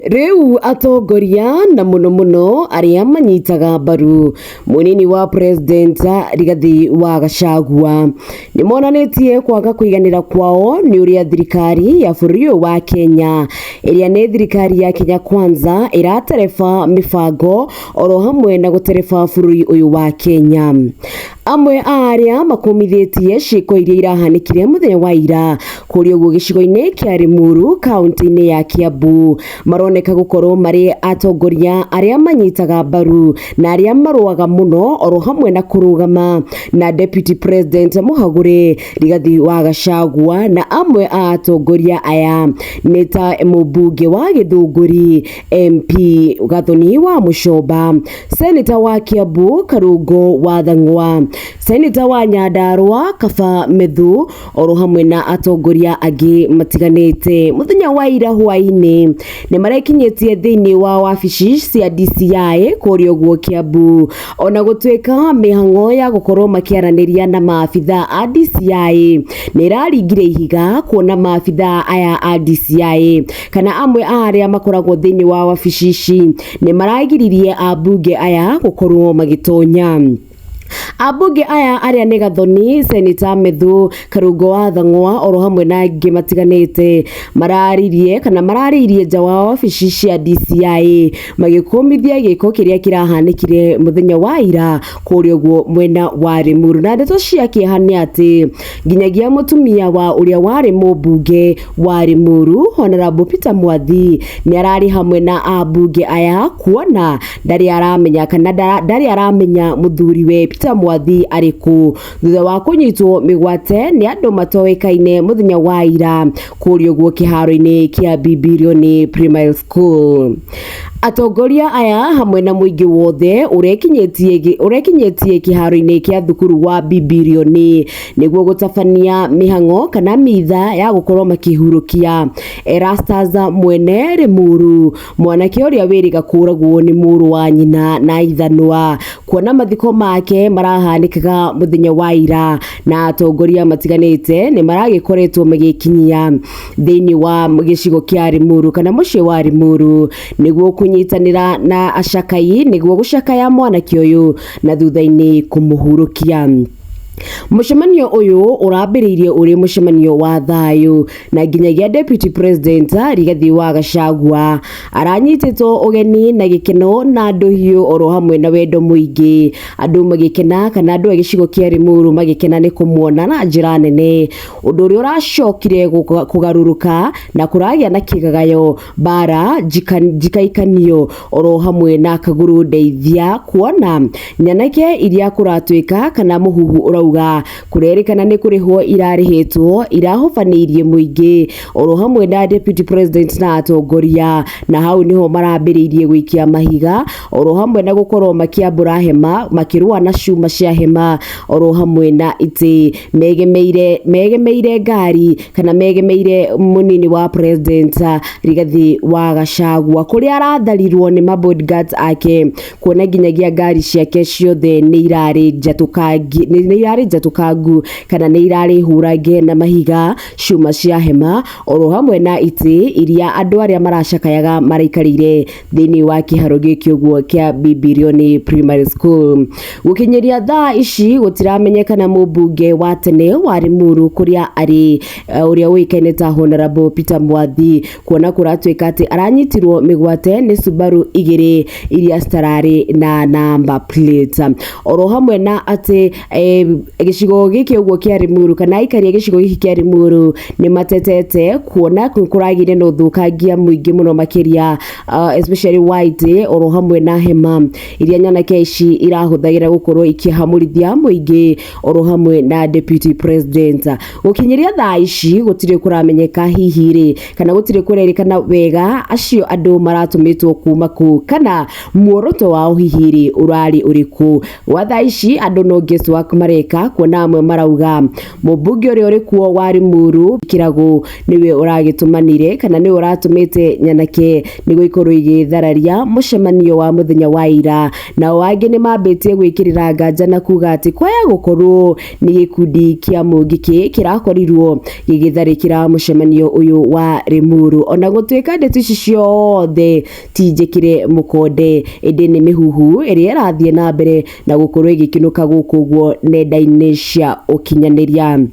Rĩu atongoria na mũno mũno arĩa manyitaga mbaru mũnini wa president Rigathi wa Gachagua nĩ monanĩtie kwaga kũiganĩra kwao nĩ ũrĩa thirikari ya bũrũri ũyũ wa Kenya ĩrĩa nĩ thirikari ya Kenya Kwanza ĩratereba mĩbango oro hamwe na gũtereba bũrũri ũyũ wa Kenya. Amwe a arĩa makũmithĩtie ciĩko iria irahanĩkire mũthenya wa ira kũrĩ ũguo gĩcigo-inĩ kĩa Limuru kaunti-inĩ ya Kiambu maroneka gũkorwo marĩ atongoria arĩa manyitaga mbaru na arĩa marũaga mũno oro hamwe na kũrũgama na deputy president Mũhagũrĩ Rigathi wa Gachagua na amwe a atongoria aya nĩ ta mũmbunge wa Gĩthũngũri MP Gathoni wa Mucoba, Seneta wa Kiambu Karungo wa Thang'wa, Seneta wa Nyandarua Kaba Methu oro hamwe na atongoria angĩ matiganĩte. Mũthenya wa ira hwaĩ-inĩ nĩ marekinyĩtie thĩinĩ wa wabici cia DCI kũrĩa ũguo Kiambu. Ona gũtuĩka mĩhang'o ya gũkorwo makĩaranĩria na maabitha a DCI nĩ ĩraringire ihiga kuona maabitha aya a DCI kana amwe a arĩa makoragwo thĩinĩ wa wabici ici nĩ maragiririe ambunge aya gũkorwo magĩtonya ambunge aya arĩa nĩ gathoni seneta methu karungo wa thang'wa oro hamwe na angĩ matiganĩte mararirie kana mararĩirie nja wa wabici cia DCI magĩkũmithia gĩko kĩrĩa kĩrahanĩkire mũthenya wa ira kũrĩa ũguo mwena wa Rĩmuru na ndeto cia kĩeha nĩ atĩ nginyagia mũtumia wa ũrĩa warĩ mũmbunge wa Limuru Honorable Peter Mwathi nĩ ararĩ hamwe na ambunge aya kuona ndarĩ aramenya kana ndara- ndarĩ aramenya mũthuri we Peter Mwathi arĩ kũ thutha wa kũnyitwo mĩgwate nĩ andũ matoĩkaine mũthenya wa ira kũrĩa ũguo kĩharo-inĩ kĩa Bibilioni Primary School atongoria aya hamwe na mũingĩ wothe ũrekinyĩtie gĩ- ũrekinyĩtie kĩharo-inĩ kĩa thukuru wa Bibilioni nĩguo gũtabania mĩhang'o kana mitha ya gũkorwo makĩhurũkia Erastus mwene Rĩmuru mwanake ũrĩa wĩrĩga kũragwo nĩ mũrũ wa nyina na ithanwa kuona mathiko make marahanĩkaga mũthenya wa ira na atongoria matiganĩte nĩ maragĩkoretwo magĩkinyia thĩinĩ wa gĩcigo kĩa Rĩmuru kana mũciĩ wa Rĩmuru nĩguo kũnyitanĩra na acakai nĩguo gũcakaya mwanake ũyũ na thutha-inĩ kũmũhurũkia. Mũcemanio ũyũ ũrambĩrĩirie ũrĩ mũcemanio wa thayũ na nginyagia Deputy President Rigathi wa Gachagua aranyitĩtwo ũgeni na gĩkeno na ndũhiũ oro hamwe na wendo mũingĩ andũ magĩkena kana andũ a gĩcigo kĩa Limuru magĩkena nĩ kũmuona na njĩra nene ũndũ ũrĩa ũracokire kũgarũrũka na kũragĩa na kĩgagayo. mbara njika- njikaikanio oro hamwe na kaguru ndeithia kuona nyanake iria kuratwika kana muhuhu urauga kurerikana ni kurihwo irarihitwo irahubaniirie muingi oro hamwe na deputy president na atongoria na hau niho marambiriirie gwikia mahiga oro hamwe na gũkorwo makĩambũra hema makĩrũa na cuma cia hema oro hamwe na itĩ megemeire megemeire ngari kana megemeire mũnini wa president ah, Rigathi wa Gachagua kũrĩa aratharirwo nĩ ma bodyguards ake kuona nginyagia ngari ciake ciothe nĩ irarĩ njatũkangi nĩ nĩ irarĩ njatũkangu kana nĩ irarĩ hũrange na mahiga cuma cia hema oro hamwe na itĩ iria andũ arĩa maracakayaga maraikarĩire thĩinĩ wa kĩharo gĩkĩ ũguo kĩa Bibilioni Primary School. Gũkinyĩria thaa ici gũtiramenyekana mũmbunge wa tene wa Limuru kũrĩa arĩ eh, ũrĩa ũĩkaine ta Honorable Peter Mwathi kuona kũratuĩka atĩ aranyitirwo mĩgwate nĩ Subaru igĩrĩ iria citararĩ na namba plate. Oro hamwe na atĩ Eh, gĩcigo gĩkĩ ũguo kĩa Limuru kana aikari a gĩcigo gĩkĩ kĩa Limuru nĩ matetete kuona nĩ kũragĩire na ũthũkangia mũingĩ mũno makĩria uh, especially white oro hamwe na hema iria nyanake ici irahũthagĩra gũkorwo ikĩhamũrithia mũingĩ oro hamwe na deputy president gũkinyĩria thaa ici gũtirĩ kũramenyeka hihi rĩ kana gũtirĩ kũrerĩkana wega acio andũ maratũmĩtwo kuma kũ kana muoroto wao hihi rĩ ũrarĩ ũrĩkũ Gwa thaa ici andũ no guess work mareka kuona amwe marauga mũmbunge ũrĩa ũrĩ kuo wa Limuru Kĩragũ nĩwe ũragĩtũmanire kana nĩwe ũratũmĩte nyanake nĩguo ikorwo igĩthararia mũcemanio wa mũthenya wa ira nao angĩ nĩ mambĩtie gwĩkĩrĩra nganja na kuga atĩ kwaya gũkorwo nĩ gĩkundi kĩa mũngĩkĩ kĩrakorirwo gĩgĩtharĩkĩra mũcemanio ũyũ wa Limuru ona gũtuĩka ndeto ici ciothe ti njĩkĩre mũkonde ĩndĩ nĩ mĩhuhu ĩrĩa ĩrathiĩ na mbere na gũkorwo ĩgĩkĩnũka gũkũ ũguo nenda-inĩ cia ũkinyanĩria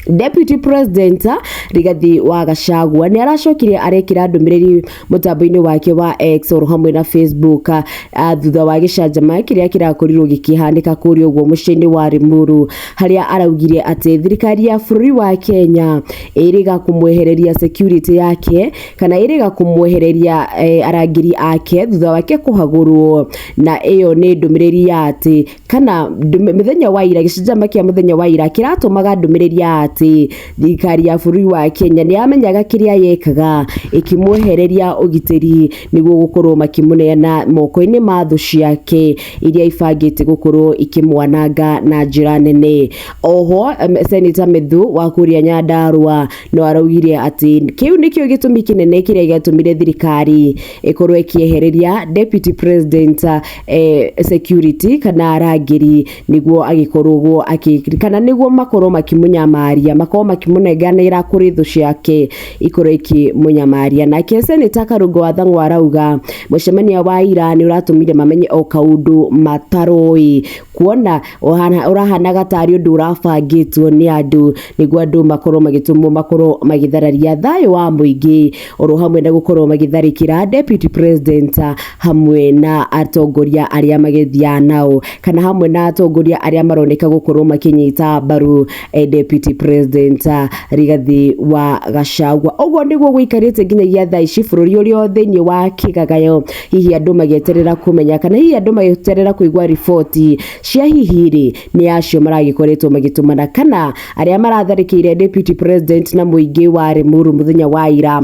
Deputy President Rigathi wa Gachagua nĩ aracokire arekĩra ndũmĩrĩri mũtambo-inĩ wake wa X oro hamwe na Facebook a, a, thutha wa gĩcanjama kĩrĩa kĩrakorirwo gĩkĩhanĩka kũrĩa ũguo mũciĩ-inĩ wa Limuru harĩa araugire atĩ thirikari ya bũrũri wa Kenya ĩrĩga kũmwehereria security yake kana ĩrĩga kũmwehereria eh, arangĩri ake thutha wake kũhagũrwo na ĩyo nĩ ndũmĩrĩri ya atĩ kana ndũmĩ- mũthenya wa ira gĩcanjama kĩa mũthenya wa ira kĩratũmaga ndũmĩrĩri ya atĩ thirikari ya bũrũri wa Kenya nĩ yamenyaga kĩrĩa yekaga ĩkĩmwehereria ũgitĩri nĩguo gũkorwo makĩmũneana moko-inĩ ma thũ ciake iria ibangĩte gũkorwo ikĩmwananga na njĩra nene oho em, seneta Methu wa kũrĩa Nyandarua no araugire atĩ kĩu nĩkĩo gĩtũmi kĩnene kĩrĩa gĩatũmire thirikari ĩkorwo ĩkĩehereria deputy president eh, security kana arangĩri nĩguo agĩkorwo akĩ kana nĩguo makorwo makĩmũnyamaria makorwo makĩmũnenganĩra kũrĩ thũ ciake ikorwo ikĩmũnyamaria nake seneta karungo wa thang'wa arauga mũcemanio wa ira nĩ ũratũmire mamenye o kaũndũ mataroĩ kuona ũhana- ũrahanaga tarĩ ũndũ ũrabangĩtwo nĩ andũ nĩguo andũ makorwo magĩtũmwo makorwo magĩthararia thayũ wa mũingĩ oro hamwe na gũkorwo magĩtharĩkĩra deputy president ah, hamwe na atongoria arĩa magethiaga nao kana hamwe na atongoria arĩa maroneka gũkorwo makĩnyita mbaru eh, deputy president ah, Rigathi wa Gachagua ũguo nĩguo gũikarĩte nginyagia thaa ici bũrũri ũrĩ o thĩinĩ wa kĩgagayo hihi andũ magĩeterera kũmenya kana hihi andũ magĩeterera kũigua riboti cia hihi rĩ nĩ acio maragĩkoretwo magĩtũmana kana arĩa maratharĩkĩire deputy president na mũingĩ wa Limuru mũthenya wa ira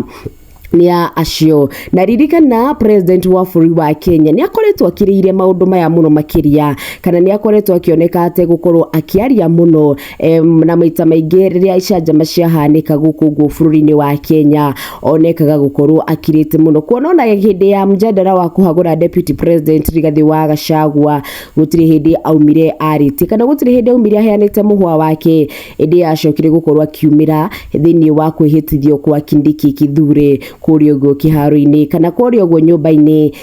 nĩ a acio na ririkana president wa bũrũri wa Kenya nĩ akoretwo akirĩire maũndũ maya mũno makĩria kana nĩ akoretwo akĩoneka ategũkorwo akĩaria mũno Em, na maita maingĩ rĩrĩa icanjama ciahanĩka gũkũ guo bũrũri-inĩ wa Kenya onekaga gũkorwo akirĩte mũno kuona ona hĩndĩ ya mjadala wa kũhagũra deputy president Rigathĩ wa Gachagua gũtirĩ hĩndĩ aumire arĩtie kana gũtirĩ hĩndĩ aumire aheanĩte mũhwa wake ĩndĩ yacokire gũkorwo akiumĩra thĩinĩ wa kwĩhĩtithio kwa Kindiki Kithure kũrĩa ũguo kĩharo-inĩ kana kũrĩa ũguo nyũmba-inĩ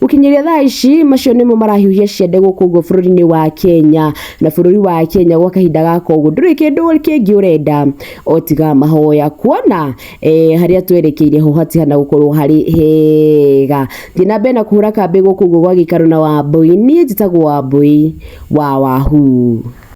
Gũkinyĩria thaa ici macio nĩmo marahiũhia ciande gũkũ ũguo bũrũri-inĩ wa Kenya na bũrũri wa Kenya gwa kahinda gaka ũguo ndũrĩ kĩndũ kĩngĩ ũrenda o tiga mahoya kuona eh, harĩa twerekeire ho hatihana gũkorwo harĩ hega thiĩ na mbere na kũhũra kambĩ gũkũ ũguo gwa gĩikaro na Wambũi niĩ njĩtagwo Wambũi wa Wahuu